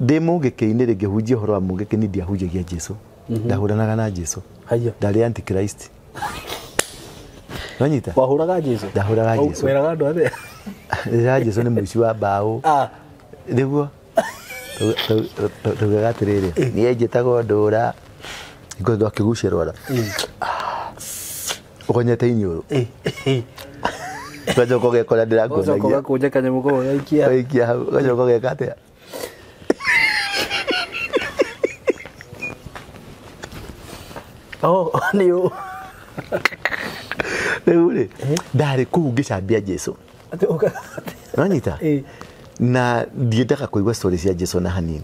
ndĩ mũngĩkĩ-inĩ rĩ ngĩhunjia ũhoro wa mũngĩkĩ ni ndiahunjagia jesu ndahũranaga na jesu haiya ndarĩ antichrist nonyita wahũraga jesu Ndahũraga Au- Jesu. weraga andũ athe rĩra jesu nĩ mũici wa mbaũ Ah, nĩguo tugaga atĩrĩrĩ niĩ njĩtagwo ndũra ngũthwo akĩgucĩrwo ra Ũkonyete inyũrũ. Eh, eh. Ũgacoka ũgekora Ũgacoka ndĩrakuonagia. ũgakũnja kanyamũ kau ũgaikia. Ũgaikia hau. Ũgacoka ũgeka atĩa? Oh, nĩ ũ. Rĩu rĩ, ndarĩ kũu ngĩcambia Jesu. Atĩ ũka- Nonyita? Eh. Na ndiendaga kũigua story cia Jesu na hanini.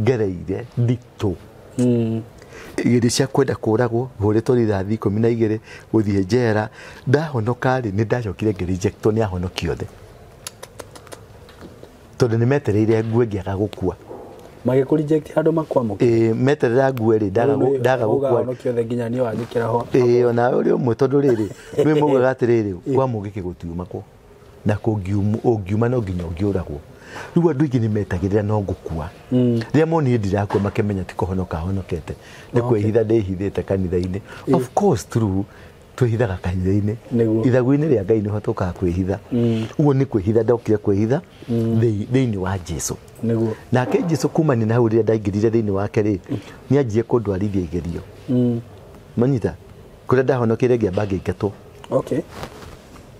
ngereire nditũ igĩrĩ cia kwenda kũragwo hũrĩtwo rithathi ikũmi na igĩrĩ gũthiĩ njera ndahonoka rĩ nĩ ndacokire ngĩ rejectwo nĩ ahonoki othe tondũ nĩ metereire ngue ngĩaga gũkua magĩkũrinjekti handũ makwamũka Ĩĩ, meterera ngue rĩ ndaga gũ- ndaga gũkua ũgahonokia othe nginya niĩ wangĩkĩra ho ĩĩ ona ũrĩ ũmwe tondũ rĩrĩ nĩ mugaga atĩrĩrĩ kwa mũngĩ kĩgũtiuma kwo na kũngium- ũngiuma no nginya ũngĩũragwo rĩu andũ aingĩ nĩ metagĩrĩra no ngũkua rĩrĩa monire ndirakua makemenya ti kũhonoka honokete nĩ kwĩhitha ndĩhithĩte kanitha-inĩ of course true twĩhithaga kanitha-inĩ Nĩguo. ithagu-inĩ rĩa ngai nĩho tũkaga kwĩhitha ũguo nĩ kwĩhitha ndokire kwĩhitha thĩ- thĩinĩ wa jesu nĩguo nake jesu kumania na hau rĩrĩa ndaingĩrire thĩinĩ wake rĩ nĩ anjie kũndwarithia igerio manyita kũrĩa ndahonokeire ngĩamba ngĩingatwo okay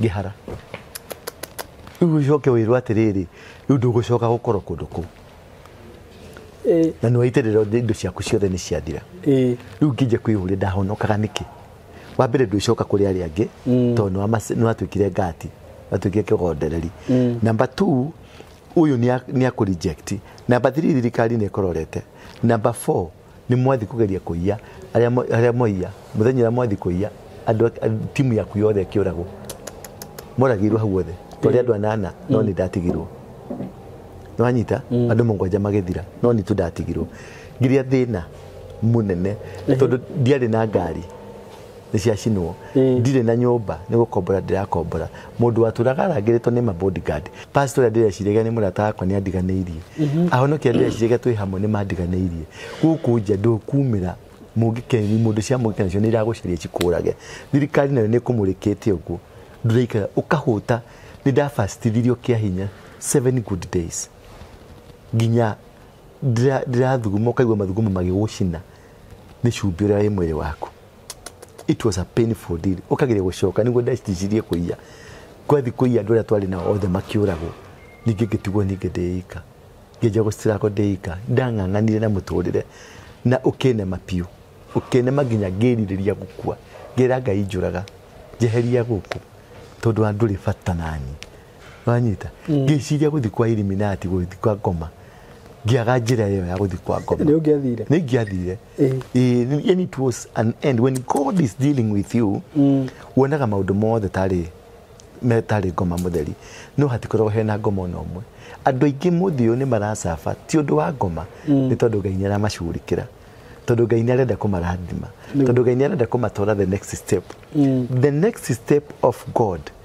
ngĩhara rĩu ũcoke wĩrwo atĩrĩrĩ rĩu ndũgũcoka gũkorwo kũndũ kũu Eh, na nĩ waitĩrĩra indo ciaku ciothe nĩ ciathira eh, rĩu ngĩnja kwĩyũria ndahonokaga nĩkĩ wa mbere ndwĩcoka kũrĩ arĩa angĩ Mm. tondũ nĩwamace- nĩwatuĩkire ngati watuĩkire kĩgondereri Mm. namba t ũyũ nĩ akũreject namba three thirikari nĩ ĩkororete namba four nĩ mwathi kũgeria kũiya arĩa mo- arĩa moiya mũthenya ũrĩa mwathi kũiya andũ a- a- timu yaku yothe ĩkĩũragwo moragĩirwo hau othe twarĩ andũ anana no nĩ ndatigirwo nĩwanyita andũ mũgwanja magĩthira no nitũ ndatigirwo ngiria thĩna mũnene tondũ ndiarĩ na ngari nĩ ciacinwo ndirĩ na nyũmba nĩ gũkombora ndĩrakombora mũndũ watũraga arangĩrĩtwo nĩ ma bodyguard pastor ũrĩa ndĩreciragia nĩ mũrata wakwa nĩ andiganĩirie ahonokia ndĩreciragia twĩ hamwe nĩ mandiganĩirie gũkũ nja ndũkumĩra mũngĩkeni mũndũ cia mũngĩka nacio nĩ iragũcaria cikũrage thirikari nayo nĩ ĩkũmũrĩkĩte ũguo ndũraikara ũkahũta nĩ ndafacitithirio kĩa hinya seven good days nginya ndĩra- ndĩrathuguma ũkaigua mathugumo magĩgũcina nĩ cumbĩ ũrĩa wĩ mwĩrĩ waku it was a painful deal ũkageria gũcoka nĩguo ndecitirie kũiya kwathi kũiya andũ arĩa twarĩ nao othe makĩũragwo ningĩ ngĩtigwo ningĩ ndĩika ngĩnja gũcitirako ndĩika ndang'ang'anire na mũtũrĩre na ũkĩnema biũ ũkĩnema nginya ngĩrirĩria gũkua ngĩra ngai njũraga njeheria gũkũ tondũ wa ndũrĩ bata nani wanyita ngĩciria gũthi kwa iliminati gũthi kwa ngoma ngĩaga njĩra ĩyo ya gũthi kwa ngoma nä å ngä athire nä ingĩathire Ĩĩ. Ĩĩ, ni- yani it was an end when god is dealing with you wonaga maũndũ mothe tarĩ metarĩ ngoma mũtheri no hatikoragwo hena ngoma ona ũmwe andũ aingĩ mũthĩ ũyũ nĩ maracaba ti ũndũ wa ngoma nĩ tondũ ngai nĩ aramacurĩkĩra tondũ ngai nĩ arenda kũmarathima tondũ ngai nĩ arenda kũmatwara the next step the next step of god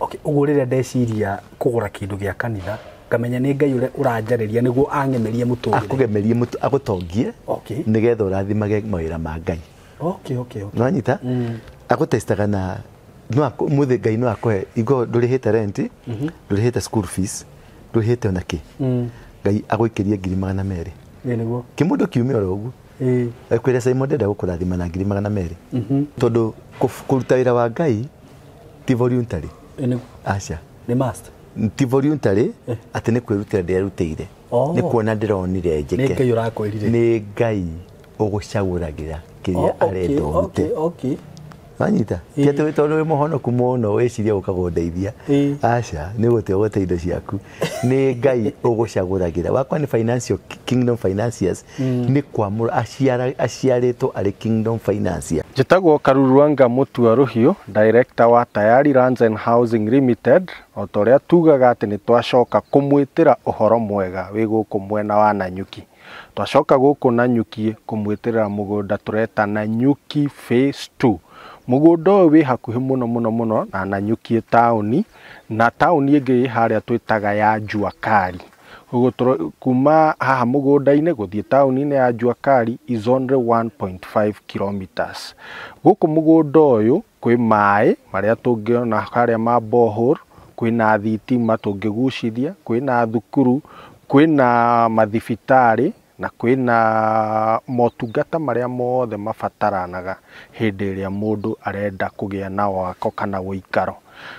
Okay, ũguo rĩrĩa ndeciria kũgũra kĩndũ gĩa kanitha ngamenya nĩ ngai ũrĩa ũranjarĩria nĩguo ang'emerie mũtũrĩre akũgemerie mũtu agũtongie Okay. nĩgetha ũrathimage mawĩra ma ngai okay, okay, okay. nonyita agũtestaga na no akũ- mũthĩ ngai no akũhe igo ndũrĩhĩte renti ndũrĩhĩte school fees ndũrĩhĩte ona kĩ ngai agũikĩrie ngiri magana merĩ Ĩ nĩguo kĩmũndũ kiume oro ũguo Ĩ. ekwĩra simon ndenda gũkũrathima na ngiri magana merĩ tondũ kũf- kũruta wĩra wa ngai ti voluntary Eh, nĩ- aca nĩ must ti voluntary atĩ nĩ kwĩrutĩra ndĩrerutĩire Oh. nĩ kuona ndĩronire nĩ njĩke ngai ũrakwĩrire nĩ ngai ũgũcagũragĩra kĩrĩa Oh, okay, arenda ũrute okay, okay. wanyita Ĩĩ. tiatĩ tondũ wĩ mũhonoku mũno wĩciria ũkagondeithia Ĩĩ. aca nĩ gũte ũgũte indo ciaku nĩ ngai ũgũcagũragĩra wakwa nĩ financial kingdom financiers nĩ kwamũra aciara- aciarĩtwo arĩ kingdom financier Njĩtagwo Karuruanga Mũtua Rũhiũ, Director wa Tayari Lands and Housing Limited, o ta ũrĩa tugaga atĩ nĩ twacoka kũmwĩtĩra ũhoro mwega wĩ gũkũ mwena wa Nanyuki. Twacoka gũkũ Nanyuki kũmwĩtĩrĩra mũgũnda tũreta Nanyuki Phase Two. Mũgũnda ũyũ wĩ hakuhĩ mũno mũno mũno na Nanyuki taũni, Na taũni ĩngĩ ĩ harĩa twĩtaga ya Juakali. Kuma haha mũgũnda-inĩ gũthiĩ taũni-inĩ ya Juakali is only 1.5 kilometres. Gũkũ mũgũnda ũyũ kwĩ maĩ marĩa tũngĩona harĩa ma borehole, kwĩna thitima tũngĩgucithia, kwĩna thukuru, kwĩna mathibitarĩ, Na kwĩna motungata marĩa mothe mabataranaga hĩndĩ ĩrĩa mũndũ arenda kũgĩa na wako kana ũikaro.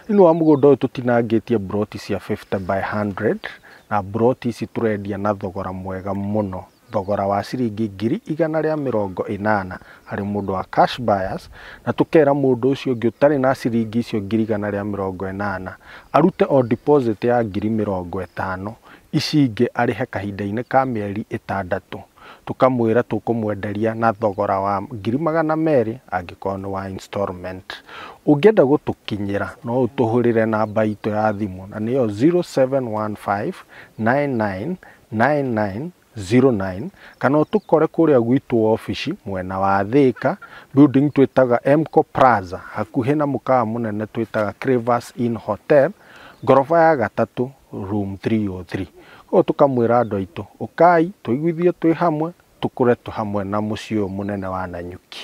Thĩiniĩ wa mũgũnda ũyũ tũtinangĩtie mburoti cia fifty by hundred, na mburoti ici tũrendia na thogora mwega mũno, thogora wa ciringi ngiri igana rĩa mĩrongo ĩnana harĩ mũndũ wa cash buyers, na tũkera mũndũ ũcio ũngĩ ũtarĩ na ciringi icio ngiri igana rĩa mĩrongo ĩnana, arute o deposit ya ngiri mĩrongo ĩtano, ici ingĩ arĩhe kahinda-inĩ ka mĩeri ĩtandatũ, tũkamwĩra tũkũmwenderia na thogora wa ngiri magana merĩ angĩkorwo nĩ wa installment. Ũngĩenda gũtũkinyĩra no ũtũhũrĩre namba itũ ya thimũ na nĩyo 0715999909 kana ũtũkore kũrĩa gwitũ wobici mwena wa Thĩka, building twĩtaga Emco Plaza hakuhĩ na mũkawa mũnene twĩtaga Crevas Inn Hotel, ngoroba ya gatatũ Room 303. Koguo tũkamwĩra andũ aitũ, ũkai tũiguithie twĩ hamwe, tũkũre twĩ hamwe na mũciĩ ũyũ mũnene wa Nanyuki.